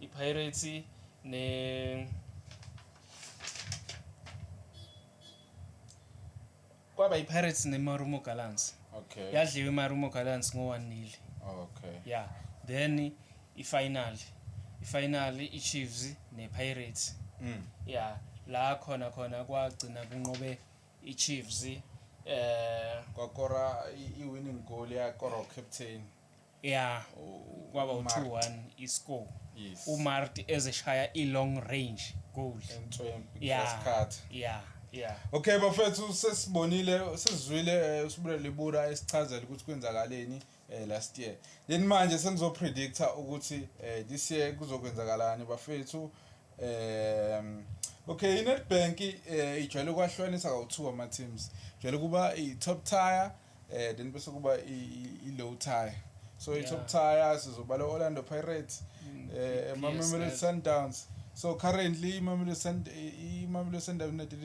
IPirates ne kwaba iPirates neMarumo Gallants. Okay. Yadliwa iMarumo Gallants ngo-1 nil. Okay. Yeah. Then ifinal. Ifinal iChiefs nePirates. Mm. Yeah. La khona khona kwagcina kunqobe iChiefs eh kwakora iwinning goal yakora ucaptain ya kwaba u-2-1 iscore Yes. umarti ezeshaya i-long range goal Entswempu, ya Graskart. ya ya Okay bafethu sesibonile sizwile eh, uSibule Libura esichazela ukuthi kwenzakaleni eh, last year. Then manje sengizo predictor ukuthi eh, this year kuzokwenzakalani bafethu. Um okay iNetbank eh, ijwayele ukwahlukanisa kawu2 ama teams. Ijwayele kuba i top tier eh then bese kuba i-low tire so yeah. i-top tire sizobala orlando pirates mm, eh, mamelodi sundowns so currently imamelodi sundowns united